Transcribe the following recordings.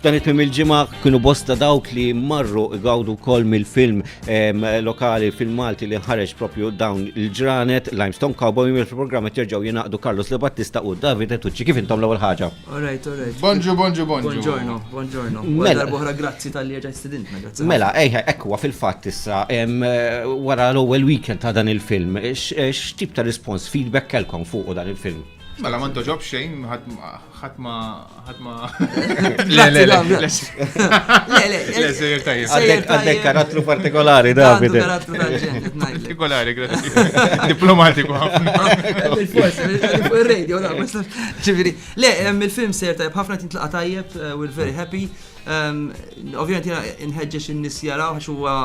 Dan it-tmim il-ġimgħa kienu bosta dawk li marru igawdu wkoll mill-film lokali film Malti li nħareġ propju dawn il-ġranet Limestone Cowboy mill-programm qed jerġgħu jingħaqdu Carlos Le Battista u David Etucci kif intom l-ewwel ħaġa. Alright, alright. Bonġu, bonġu, bonġu. Bonġorno, bonġorno. Mela boħra grazzi tal-li ġaj stidintna, grazzi. Mela, ejħa, ekwa fil-fatt issa wara l-ewwel weekend ta' dan il-film, x'tip ta' rispons feedback kelkom fuq dan il-film? Mela, ma ntoġob xejn, ħatma. ħatma. Le, le, le. Le, le. Le, sejjer tajjeb. Għandek karattru partikolari, David. Karattru partikolari, grazzi. Diplomatiku ħafna. Il-radio, la, ġiviri. Le, il-film sejjer tajjeb, ħafna tintlaqa tajjeb, eh, we're very happy. Ovvijament jena nħedġex in-nis jaraw, għax huwa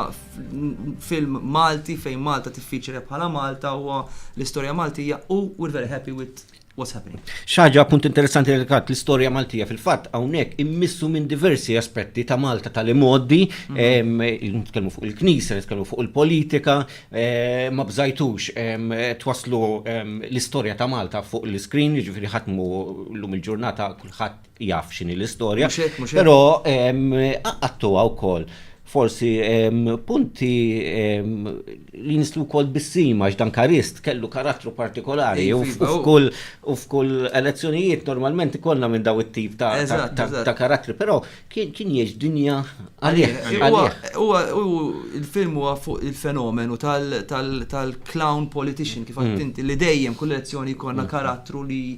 film Malti fejn Malta tiffiċere bħala Malta u l-istorja Maltija u we're very happy with what's happening. Xaġa punt interessanti li kat l-istorja Maltija fil-fatt hawnhekk immissu minn diversi aspetti ta' Malta tal-imoddi, mhm. nitkellmu fuq il-knisja, nitkellmu fuq il-politika, eh, ma bżajtux twaslu l-istorja ta' Malta fuq l-iskrin, jiġifieri ħatmu llum il-ġurnata kulħadd jaf x'inhi l-istorja. Mhux hekk, mhux hekk. Però ehm, qaqqattuha wkoll forsi ehm, punti ehm, li nistlu wkoll bissima għax dan karist kellu karattru partikolari Ej, u f- iva, u u- f'kull u f'kull elezzjonijiet normalment ikollna minn daw it-tip ta' ta- Eżatt, ta- eżatt. ta' karattri, però kien kien jgħix dinja għalih. Huwa- għalih. huwa- hu- Il-film huwa fuq il-fenomenu tal- tal- tal-clown politician kif għadt inti li dejjem kull elezzjoni jkollna karattru li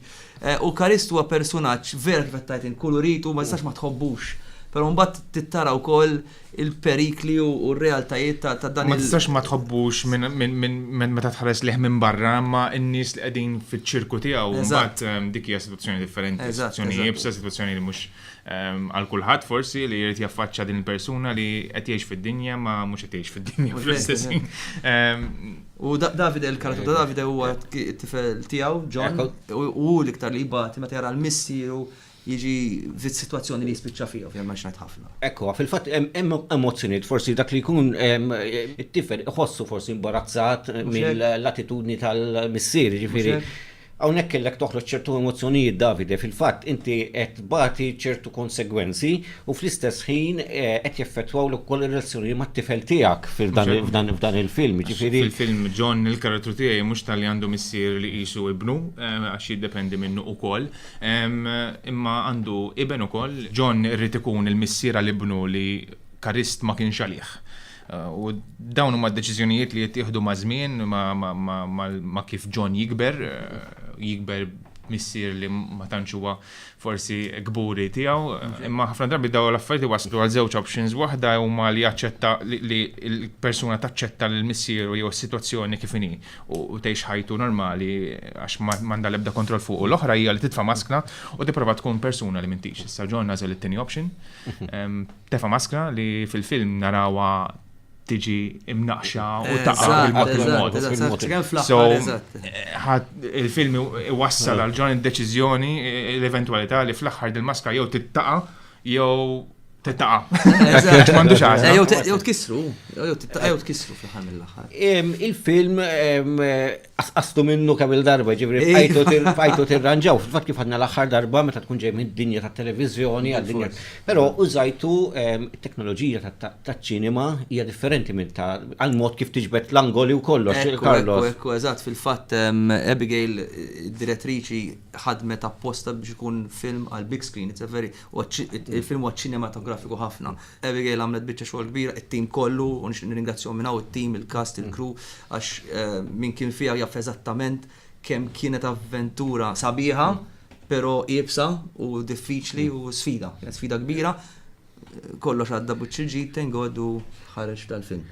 U Karist huwa persunaġġ vera kif qed tgħid int, kull urid u ma tistax ma tħobbux. Però mbagħad tittara wkoll il-perikli u r-realtajiet ta' dan il-. Ma tistax ma tħobbux minn meta tħares lih minn barra, imma n-nies li qegħdin fiċ-ċirku tiegħu mbagħad dik hija sitwazzjoni differenti, sitwazzjoni iebsa, sitwazzjoni li mhux Għal kulħadd forsi li jrid jaffaċċa din il-persuna li qed jgħix fid-dinja ma mhux qed jgħix fid-dinja fl-istess. U Davide l-karatu ta' Davide huwa t-tifel tiegħu John u l-iktar li jibati meta jara l-missieru jiġi fit situazzjoni li jispiċċa fija, fija maġnat ħafna. Ekku, fil-fat, hemm emozzjoniet, forsi dak li jkun it-tifel iħossu forsi imbarazzat mill-attitudni tal-missier, ġifiri. Hawnhekk kellek toħroġ ċertu emozzjonijiet Davide, fil-fatt inti qed tbati ċertu konsegwenzi u fl-istess ħin qed jeffettwawlek ukoll ir-relazzjoni mat-tifel tiegħek f'dan il-film, jiġifieri. Fil-film John il-karattru tiegħi mhux talli għandu missier li qisu ibnu għax jiddependi minnu ukoll, imma għandu iben ukoll. John irid ikun il-missier għal ibnu li Karist ma kienx għalih. U dawn huma deċiżjonijiet li jittieħdu ma' żmien, ma' kif John jikber, jikber missier li ma tantx huwa forsi kburi tiegħu, imma ħafna drabi daw l-affarijiet waslu għal żewġ options waħda huma li jaċċetta li l-persuna taċċetta lil missieru jew is-sitwazzjoni kif inhi u tgħix ħajtu normali għax m'għandha l-ebda kontroll fuq. U l-oħra hija li titfa' maskna u tipprova tkun persuna li m'intix. Issa John għażel it-tieni option. Tefa' maskra li fil-film narawha tiġi imnaqxa u taqa' bil-mod il-mod. So, il-film iwassal għal ġon id-deċiżjoni l-eventwalità li fl-aħħar dil-maskra jew tittaqa' jew tittaqa'. M'għandu xagħar. Jew tkissru, jew tkissru fl-aħħar mill-aħħar. Il-film Asqastu minnu kemm il-darba, ġibri, fajtu tirranġaw, fil-fat kif għadna l-axħar darba meta tkun ġej minn dinja ta' televizjoni għad-dinja. Pero użajtu ehm, teknoloġija ta' ċinema hija differenti minn ta' għal-mod kif tiġbed l-angoli u kollox. Karlos. Ekku, eżat, fil-fat ehm, Abigail, direttriċi, ħadmet apposta biex ikun film għal-big screen. It's a very, Il-film huwa ċinematografiku ħafna. Abigail għamlet biċċa xogħol kbira, it-tim kollu, u nixtieq nirringrazzjahom minn hawn, it-tim, il-cast, il-crew, għax min kien fiha jaf eżattament kemm kienet avventura sabiħa, però iebsa u diffiċli u sfida. Kienet sfida kbira. Kollox għadda b'wiċċ il-ġid, thank God, u. tħareġ tal-film.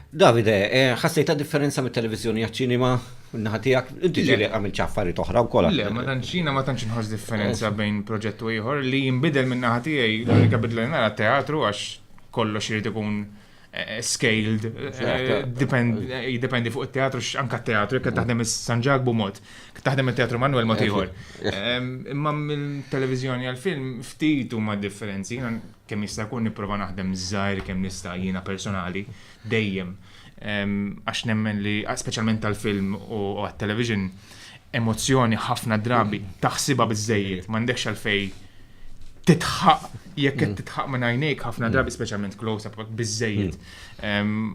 Davide, eh, ħassejta differenza mit-televiżjoni għaċ-ċinima naħa tiegħek? Inti ġieli għamil ċaffariet oħra wkoll. Le, ma tantxina ma tantx inħoss differenza eh. bejn proġett u ieħor li jinbidel minn naħa tiegħi l-unika bidla nara teatru għax kollox irid ikun eh, scaled, jiddependi fuq il-teatru, anka teatru, jek taħdem San Ġagbu mod, taħdem il-teatru Manuel mod ieħor. Imma mill-televizjoni għal-film ftit huma differenzi, Kemm jista' jkun nipprova naħdem żgħir kemm nista' jiena personali dejjem għax nemmen li speċjalment tal-film u għat-television emozzjoni ħafna drabi taħsiba biżejjed m'għandekx għalfej titħaq jekk qed mm. titħaq minn għajnejk ħafna mm. drabi speċjalment close up biżejjed. Mm.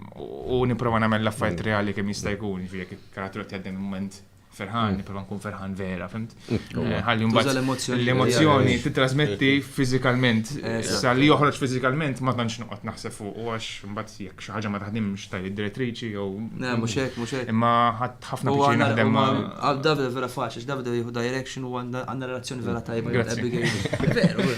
U nipprova nagħmel l-affarijiet reali kemm jista' jkun, jiġifieri jekk il-karattru qed jgħaddi moment ferħan, mm. prova nkun ferħan vera, fimt? Mm. Eh, ħalli mbagħad l-emozzjoni titrasmetti fiżikalment, eh, sa li joħroġ fiżikalment ma tantx noqgħod naħseb fuq u għax mbagħad jekk xi ħaġa ma taħdimx tajt id-direttriċi jew. Ne, mhux hekk, mhux hekk. Imma ħadd ħafna biex naħdem ma. Davide vera faċli, Davide jieħu direction u għandna relazzjoni vera tajba. Veru,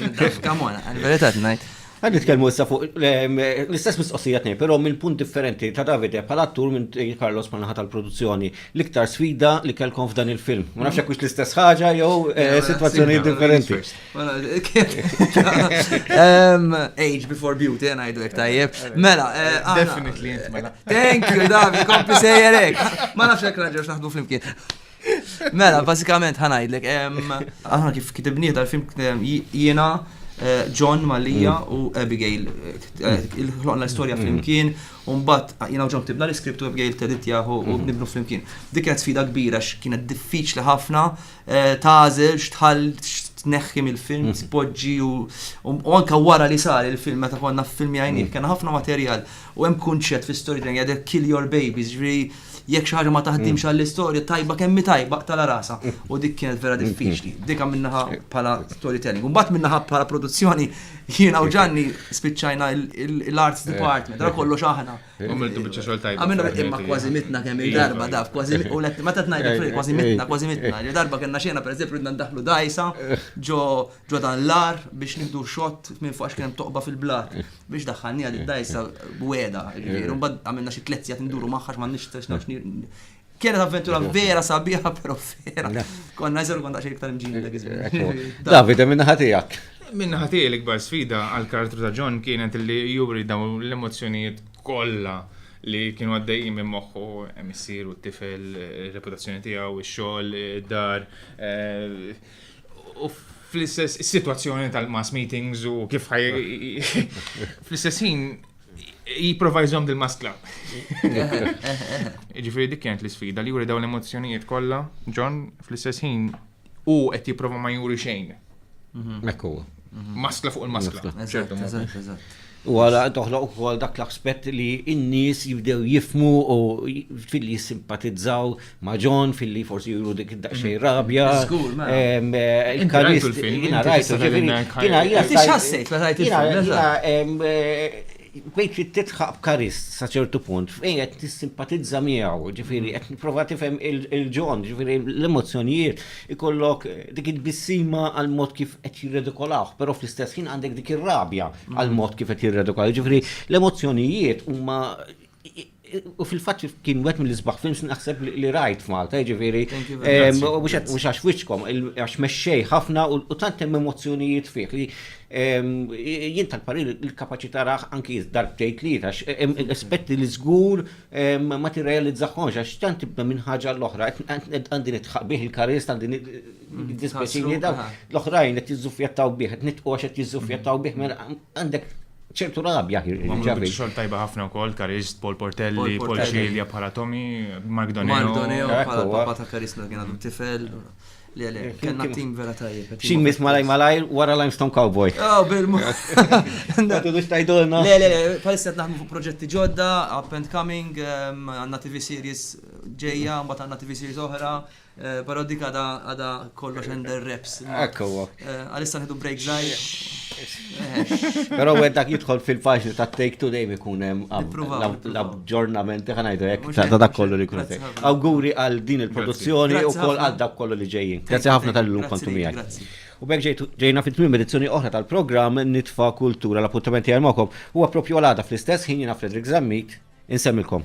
come on, verità ngħid. Qed nitkellmu issa fuq l-istess mistoqsija tnejn, però minn punt differenti, ta' Davide bħala attur minn Carlos bħal naħa tal-produzzjoni. L-iktar sfida li kellkom f'dan il-film? Ma nafx jekk hux l-istess ħaġa jew sitwazzjonijiet differenti. Age before beauty, ngħidu hekk tajjeb. Mela, Definitely int mela. Thank you, Davide, kompli sejjerek. Ma nafx jekk raġel x'naħdu flimkien. Mela, basikament ħanajdlek, aħna kif kitibni dal-film jiena eh, John Malija mm. u Abigail eh, il-ħloqna l-istoria mm. flimkien u mbagħad jiena John tibna l-iskript u Abigail tedit jaħu u mm. nibnu flimkien. Dik kienet sfida kbira x'kienet diffiċli ħafna eh, tażel x'tħall tneħħi mill-film, mhm. tpoġġi u anka wara li sar il-film meta konna f'filmi għajni, mhm. kena ħafna materjal u hemm kunċett fi storytelling għadek kill your babies, ġri jiġifieri Jekk xi ħaġa ma taħdimx għall-istorja tajba kemm hi tajba qtala rasha. U dik kienet vera diffiċli. Dika minnaħa bħala storytelling. Mbagħad minnaħa bħala produzzjoni jiena u Ġanni spiċċajna l-arts department, ra kollox aħna. Għamiltu biċċa xogħol tajba. Għamilna imma kważi mitna kemm il-darba daf, kważi u let ma tat ngħidlek kważi mitna, kważi mitna. Il darba kellna xena pereżempju ridna ndaħlu dajsa ġo dan l-ar biex nieħdu xott minn fuq għax kien toqba fil-blat. biex daħħalni għad id-dajsa b'weda, ġifieri, mbagħad għamilna xi tliet sigħat nduru magħha x'ma nixtiex Kienet avventura vera sabiħa, però vera. Konna jżel kont għaxi iktar mġin dak iż-żmien. Davide, minna ħatijak. Minna ħatijak l-ikbar sfida għal-karattru ta' John kienet li juri daw l-emozjonijiet kollha li kienu għaddejjin minn moħħu emissir u t-tifel, reputazzjoni tiegħu, ix-xogħol, id-dar, eh, U fl-istess situazzjoni tal-mass meetings u kif ħaj. Fl-istess ħin jiprofa jżom dil-maskla. Ġifiri dik kienet l-sfida li juri dawn l-emozjonijiet kollha, John fl-istess ħin u qed jipprova ma juri xejn. Mhm. Mekku. maskla fuq il-maskla. U għala toħloq ukoll dak l-aspett li n-nies jibdew jifmu u fil jissimpatizzaw ma' John fil-li forsi juru dik daqsxejn rabja. Il-karist. Jina rajtu. Jina jina jina jina Bdejt trid tidħaq b'Karist sa ċertu punt fejn qed tissimpatizza miegħu, ġifieri qed nipprova tifhem il-John, ġifieri l-emozzjonijiet ikollok dik it-tbissima għal mod kif qed jirredikolahu, però fl-istess ħin għandek dik ir-rabja għal mod kif qed jirredikolahu. Ġifieri l-emozzjonijiet huma U fil-fatt kien wet mill-isbaħ films naħseb li rajt f'Malta, ġifieri. Mhux għax wiċċkom, għax mexxej ħafna u tant hemm emozzjonijiet fih li jien tal-parir il-kapaċità raħ anki darbtejt li għax aspetti li żgur ma tirrealizzaħħomx għax tant tibda minn ħaġa l-oħra għandi nitħaq bih il-karist għandi nitħaq l-oħrajn qed jiżżuffjattaw bih, qed nitqgħu għax qed jiżżuffjattaw bih, mela għandek ċertu rabja li ġabet. Għamlu biex xogħol tajba ħafna wkoll, Karist, Paul Portelli, Paul Cilia bħala Tommy, Mark Doneo. Mark Doneo bħala papa ta' Karist meta kien għadu tifel. Eh, kien tim vera tajjeb. Xi mis malaj malaj wara Limestone Cowboy. Oh, bil-mu. Tudux tajdolna. Le, le, le, palissa naħdmu fuq proġetti ġodda, up and coming, ehm, għanna TV series ġeja, mbagħad għanna TV series oħra, Eh, Pero dik għada għada kollox under reps. Ekku. Eh, għalissa nħedu break zaħi. Pero għed dak jitħol fil-paġni ta' take today mi kunem l-abġornamenti ħanajdu jek ta' dak kollu li kunem. Awguri għal din il-produzzjoni u koll għal dak kollu li ġejjin. Grazie ħafna tal-lum kontu miegħek. U bekk ġejna fit tmim edizzjoni oħra tal-programm Nitfa Kultura l-appuntamenti għal mokom. Huwa propju għal fl-istess ħin jina Fredrik Zammit insemmilkom.